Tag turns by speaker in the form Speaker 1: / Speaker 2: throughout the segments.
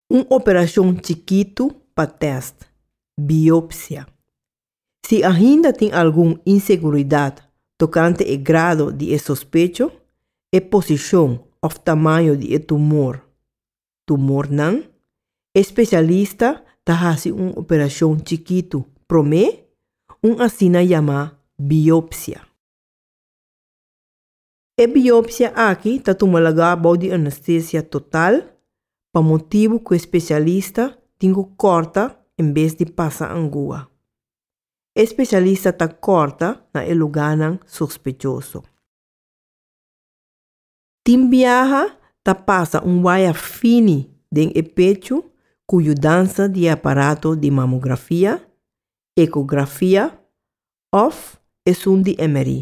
Speaker 1: Un operacion chikitu pa test, biopsia. Si ainda tin algun inseguridad tocante e grado di e sospecho, e posicion of tamaño di e tumor, tumornan, e specialista ta haci un operacion chikitu prome, un asina yama biopsia. E biopsia aki ta tuma lagá bou di anestesia total pa motibu ku e spesialista tin ku kòrta en bes di pasa angua. E spesialista ta kòrta na e lugánan sospechoso. Tin biaha ta pasa un waya fini den e pechu ku yudansa di e aparato di mamografia, ekografia òf esun di emerí.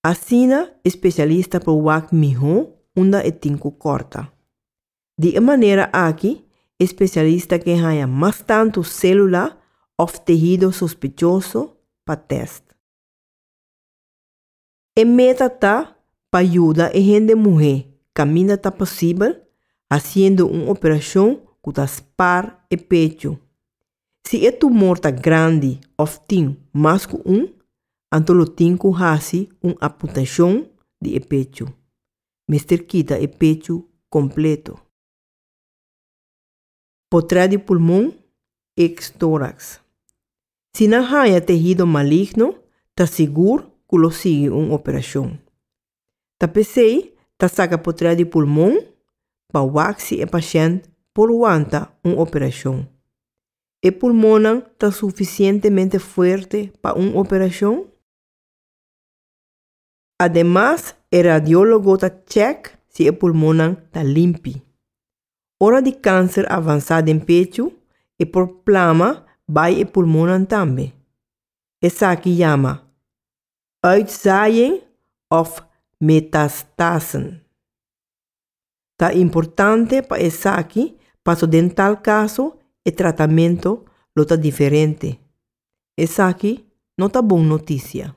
Speaker 1: Asina e spesialista por wak mihó unda e tin ku kòrta. Di e manera aki e spesialista ke haña mas tantu sélula òf tehido sospechoso pa tèst. E meta ta pa yuda e hende muhé kaminda ta posibel hasiendo un operashon ku ta spar e pechu. Si e tumor ta grandi òf tin mas ku un, anto lo tin ku hasi un aputashon di e pechu. Mester kita e pechu kompleto. por tras di pulmon, ex-tórax. Si nan haña tehido maligno, ta sigur ku lo sigui un operashon. Ta p'esei ta saka por tras di pulmon pa wak si e pashènt por wanta un operashon. E pulmonnan ta sufisientemente fuerte pa un operashon? Ademas e radiologo ta chèk si e pulmonnan ta limpi. Ora di kanser avansá den pechu, e por plama bai e pulmonnan tambe. Esaki yama uitzaaien òf metastasen. Ta importante pa esaki paso den tal kaso e tratamentu lo ta diferente. Esaki no ta bon notisia.